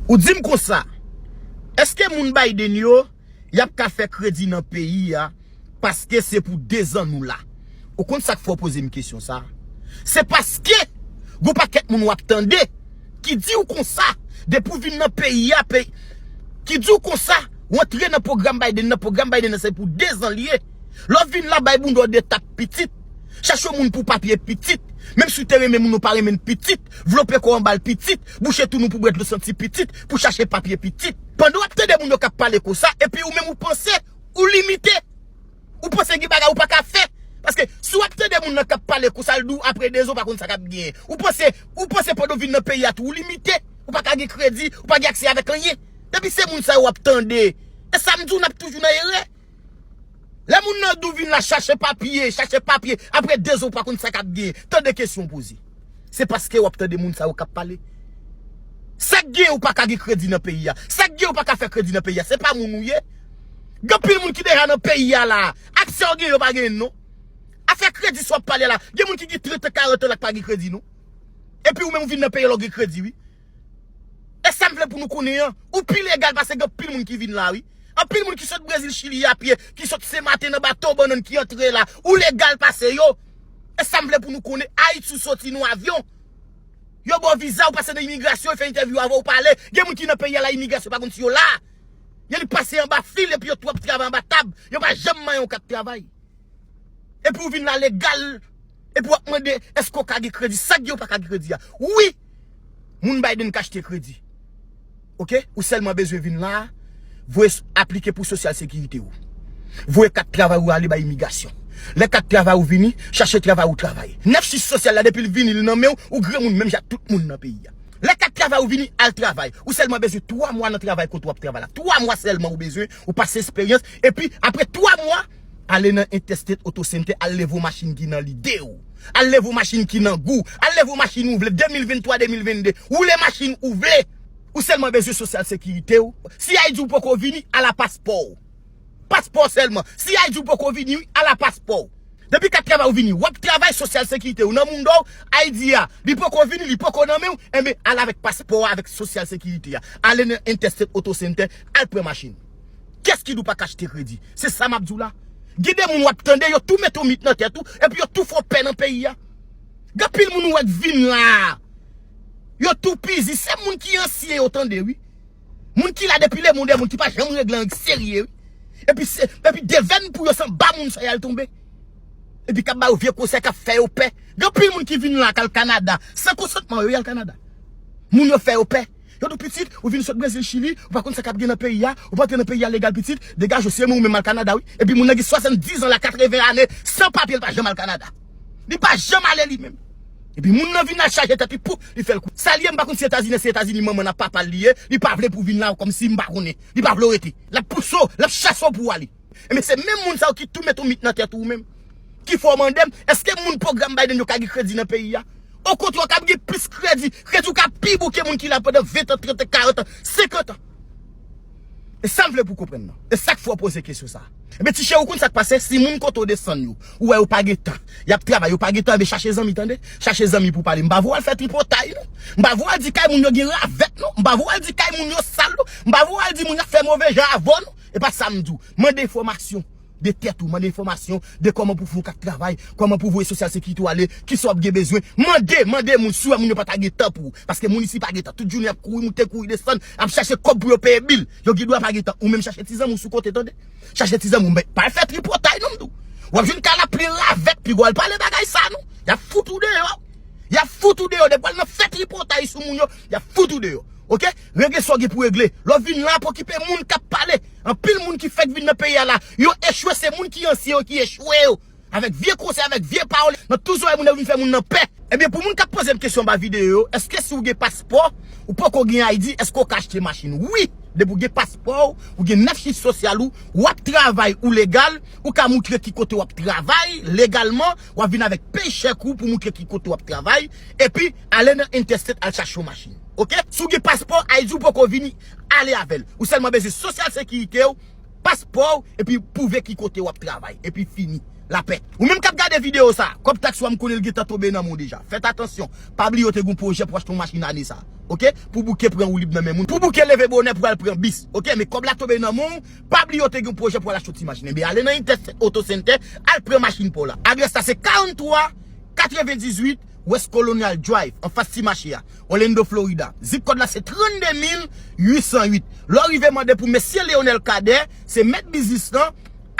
Ou dim konsa, eske moun Biden yo yap ka fè kredi nan peyi a paske se pou 2 zan nou la? Ou konn sak fè w pozem kesyon sa? Se paske gon pakèt moun wap tande ki diw konsa depi w vin nan peyi a peyi ki diw konsa w antre nan pwogram Biden nan pwogram Biden nan se pou 2 zan li ye lè w vin la bay bounda w 2 tap pitit chache w moun pou papye pitit menm si w te renmen moun ou pa renmen l pitit vlope kò w anba l pitit Bouche tou nou pou bwè dlo santi pitit, pou chache papye pitit. Pandan w ap tande moun yo k ap pale konsa epi ou menm ou panse ou limite. Ou panse gen bagay ou pa ka fè. Paske si w ap tande moun nan k ap pale konsa l di w apre 2 zan ou pa konn sa k ap genyen. Ou panse ou panse pandan w vin nan peyi a tou ou limite. Ou pa ka gen kredi, ou pa gen aksè avèk anyen. Depi se moun sa yo w ap tande. E sa m di w n ap toujou nan erè. Lè moun nan dou vin la chache papye, chache papye, apre 2 zon ou pa konn sa kap gen, tande kesyon ou poze. Se paske wap tande moun sa yo kap pale. Sak gen ou paka gen kredi nan peyi a, sak gen ou paka fè kredi nan peyi a, se pa moun ou ye. Gen pil moun ki deja nan peyi a la, aksè ou gen yo pa genyen non. Afè kredi sa wap pale la, gen moun ki gen 30 an 40 an la ki pa gen kredi non. Epi ou menm ou vin nan peyi a la ou gen kredi wi. E sam vle pou nou konnen an, ou pi legal pase gen anpil moun ki vin la wi. Anpil moun ki sot Brezil, Chili a pye, ki sot Sen Maten nan bato bannann ki antre la, ou legal pase yo. E sam vle pou nou konnen, Ayiti ou soti nou avyon, yo baw viza ou pase nan imigrasyon, yo fè entèvyou avèw ou pale, gen moun ki nan peyi a la imigrasyon pa konn si yo la. Yo li pase anba fil epi yo tou ap travay anba tab, yo pa janm mayen yon kat travay. Epi ou vin la legal, epi wap mande eske ou ka gen kredi, sak di ou paka gen kredi a. Wi! Moun Biden k achte kredi. Ok, ou sèlman bezwen vin la a, voye aplike pou sosyal sekirite ou. Voye kat travay ou ale bay imigasyon. Lè kat travay ou vini, chache travay ou travay. Nèf chich sosyal la depi l vini li nan men ou, ou granmoun menm jan ak tout moun nan peyi a. Lè kat travay ou vini, al travay. Ou sèlman bezwen 3 mwa nan travay kote w ap travay la. 3 mwa sèlman ou bezwen, ou pase esperyans, epi apre 3 mwa, Ale nan intestate auto center al leve yon machin ki nan lide ou Al leve yon machin ki nan gou Al leve yon machin ou vle 2023 2022 Woule machin ou vle Ou selman bezwen social securite ou CI di ou poko vini Ala paspò ou Paspò selman CI di ou poko vini wi Ala paspò ou Depi kat travay ou vini Wap travay social securite ou nan moun do ou ID a li poko vini li poko nan menw enben al avek paspò a avek social securite a Ale nan intestate auto center al pran machin. Kès ki di w pa ka achte kredi? Se sa m ap di w la. Gen de moun w ap tande, yo tou mete yon mit nan tèt ou, epi yo tou fè w pè nan peyi a. Gen anpil moun ou wè k vin la a, yo toupizi. Se moun ki ansyen yo tande wi. Moun ki la depi lemond e moun ki pa janm regle anyen k serye wi. Epi se, epi devèn pou yo se anba moun sa y al tonbe. Epi k ap ba yo vye konsèy, k ap fè yo pè. Gen anpil moun ki vin la a k al Kanada, san konsantman yo y al Kanada. Moun yo fè yo pè. Yo tou pitit, ou vin sot brezil chili, ou pa konn sa kap gen nan peyi a, ou pa antre nan peyi a legal pitit, degaj ou se moun ou menm al kanada wi, epi moun nan gen 70 ans la 80 ane san papye li pa janm al kanada. Li pa janm ale li menm. Epi moun nan vin la chaje tèt li pou li fèl kou. Sal ye m pa konn si etazini se etazini manman l ak papa l li ye, li pa vle pou vin la kòmsi m pa konnen. Li pa vle w rete. Lap pouse w, lap chase w pou w ale. Enben se menm moun sa yo ki tou met ou mit nan tèt ou menm. Ki fè w mande m, eske moun pwogram Biden yo ka gen kredi nan peyi a? Okontrè w kab gen plis kredi, kredi w ka pi bon ke moun ki la pandan 20 tan, 30 tan, 40 tan, 50 tan. E sa m vle pou w konprann nan. E sa k fè w poze kesyon sa a. Enben ti chè ou konn sa k pase, si moun kote w desann yo, ou wè yo pa gen tan, y ap travay, yo pa gen tan, enben chache zanmi tande. Chache zanmi pou w pale. M pa vle w al fè tripotay non. M pa vle w al di kay moun yo gen ravèt non. M pa vle w al di kay moun yo sal non. M pa vle w al di moun yo ap fè move jan avè w non. E pa sa m di w. Mande enfòmasyon de tèt ou. Mande enfòmasyon de kòman pou fè yon kat travay. Kòman pou voye sosyal sekirite ou ale. Kisa w ap gen bezwen. Mande! Mande moun. Si w wè moun yo pa ta gen tan pou ou. Paske moun isi pa gen tan. Tout jounen y ap kouri moute, kouri desann. Ap chache kòb pou yo peye bil. Yo gen dwa pa gen tan. Ou menm chache ti zanmi w sou kote tande. Chache ti zanmi w. Men, pa al fè tripotay non m di w. W ap jwenn kay la plen ravèt. Pi gwa al pale bagay sa non. Y ap fout ou deyò. Y ap fout ou deyò. Depi w al nan fè tripotay sou moun yo, y ap fout ou deyò. Ok? Regle sa w gen pou regle. Lè w vin la pou okipe moun k ap pale. Anpil moun ki fèk vin nan peyi a la, yo echwe se moun ki ansyen yo ki echwe yo. Avèk vye konsèy, avèk vye pawòl, nan tou zòrèy moun yo vin fè moun nan pè. Ebyen pou moun k ap poze m kesyon anba videyo yo, èske si w gen paspò, ou poko gen ID, èske w ka achte machin? Wi! Depi w gen paspò w, ou gen 9 chif sosyal ou, w ap travay, ou legal, ou ka moutre ki kote w ap travay legalman, w ap vin avèk paycheck ou pou moutre ki kote w ap travay, epi. Ale nan interstate al chache yon machin ok si w gen paspò ayiti w poko vini ale avèl ou sèlman bezwen sosyal sekirite w paspò w epi pwouve ki kote wap travay epi fini lapè ou menm kap gade video sa kòb taks ou a m konnen l gentan tonbe nan men w deja fèt atansyon pa bliye w te gen yon pwojè pou w achte yon machin ane sa ok pou bouke pran woulib nan men moun pou bouke leve bonè pou w al pran bis ok men kòb la tonbe nan men w pa bliye w te gen yon pwojè pou w al achte yon ti machin enben ale nan interstate auto center al pran machin pa w la adrès la se 43 98 West Colonial Drive, anfas ti mache a, Orlando, Florida. Zip kòd la se 32808. Lè w rive mande pou Mesye Leonel Cadet, se mèt biznis lan,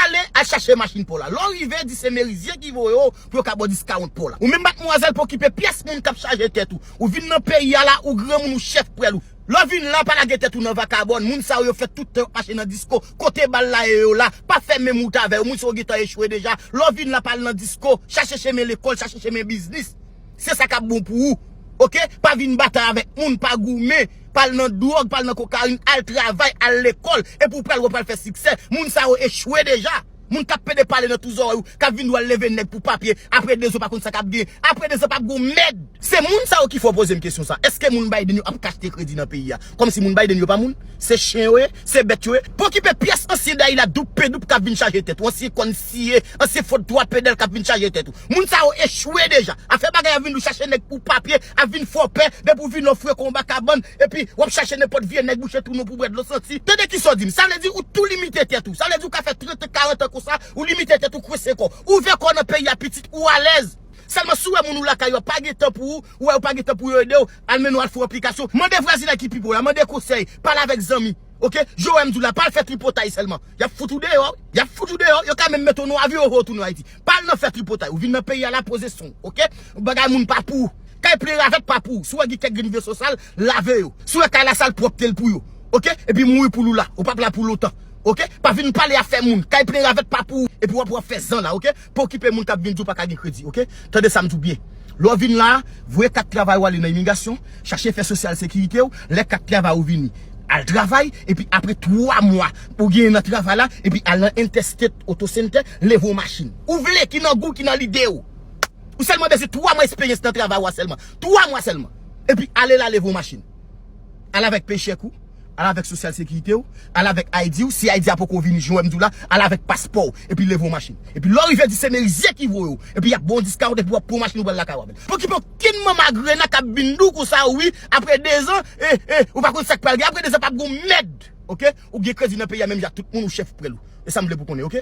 ale al chache machin pa w la. Lè w rive di se Merizye ki voye w pou yo ka ba w diskawont pa w la. Ou menm matmwazèl pokipe pyès moun k ap chaje tèt ou. Ou vin nan peyi a la, ou granmoun ou chèf pwèl ou. Lè w vin la pa lage tèt ou nan vakabòn, moun sa yo yo fè tout tan yo mache nan disko, kote bal la ye yo la, pa fè menm wout avè yo, moun sa yo gentan echwe deja, lè w vin la pa al nan disko, chache chemen lekòl, chache chemen biznis, se sa kap bon pou ou ok, pa vin batay avèk moun, pa goumen, pa al nan dwòg, pa al nan kokayin, al travay, al lekòl, epi w pral wè w pral fè siksè, moun sa yo echwe deja. Moun kap pede pale nan tou zòrèy ou kap vin di wal leve nèg pou papye apre 2 zan pa konn sa kap gen apre 2 zan pap gon mèd. Se moun sa yo ki fè w pozem kesyon sa, eske moun Biden yo ap k achte kredi nan peyi a? Kòmsi moun Biden yo pa moun? Se chen yo ye? Se bèt yo ye? Pokipe pyès ansyen dayi la doup pe doup kap vin chaje tèt ou, ansyen kòn siye, ansyen fòd 3 pedal kap vin chaje tèt ou. Moun sa yo echwe deja. Afè bagay ap vin dou chache nèg pou papye ap vin fò pè depi w vin nan fwe konba kabann epi w ap chache nenpòt vye nèg bouche twou nou pou w bwè dlo santi. Tande kisa w di m. Sa vle di ou tou limite tèt ou. Sa vle di ou ka fè 30 tan 40 tan konsa ou limite tèt ou kwense kò w. Ouvè kò w nan peyi a pitit ou alèz. Sèlman si w wè moun ou lakay yo pa gen tan pou ou, ou wè yo pa gen tan pou yo ede w, al mennen w al fè yon aplikasyon. Mande vwazinay ki pi pre w la, mande konsèy, pale avèk zanmi. Ok. Joe wè m di w la, pa al fè tripotay sèlman. Y ap fout ou deyò wi. Y ap fout ou deyò. Yo ka menm mete w nan avyon yo voye w tounen Ayiti. Pa al nan fè tripotay ou vin nan peyi a la poze son w ok bagay moun pa pou ou kay plen ravèt pa pou ou si w wè gen kèk grenn veso sal lave yo si w wè kay la sal pwòpte l pou yo ok epi mouri pou l ou la ou pap la pou lontan ok pa vin pale afè moun kay plen ravèt pa pou ou epi w ap wè w ap fè zan la ok pa okipe moun k ap vin di w pa ka gen kredi ok tande sa m di w byen lè w vin la a voye kat travay ou ale nan imigasyon chache fè sosyal sekirite w lè kat travay ou vini al travay epi apre 3 mwa ou genyen nan travay la epi al nan entèstet otosentè Leve yon machin ou vle ki nan gou w, ki nan lide w. Ou sèlman bezwen 3 mwa esperyans nan travay ou a sèlman. 3 mwa sèlman. Epi ale la leve yon machin. Al avèk pechèk ou, al avèk sosyal sekirite w, al avèk ID w, si ID a poko vini jan wè m di w la, al avèk paspò w, epi leve yon machin. Epi lè w rive di se Merizier ki voye w, epi y ap ba w yon discount epi w ap pran yon machin ou pral lakay w avè l. Pokipe okenn manman agrena k ap vin di w konsa wi aprè 2 zan, e, e, ou pa konn sa k pral gen aprè 2 zan p ap gen yon mèd. Ok. Ou gen kredi nan peyi a menm jan ak tout moun ou chèf prèl ou. E sa m vle pou w konnen ok.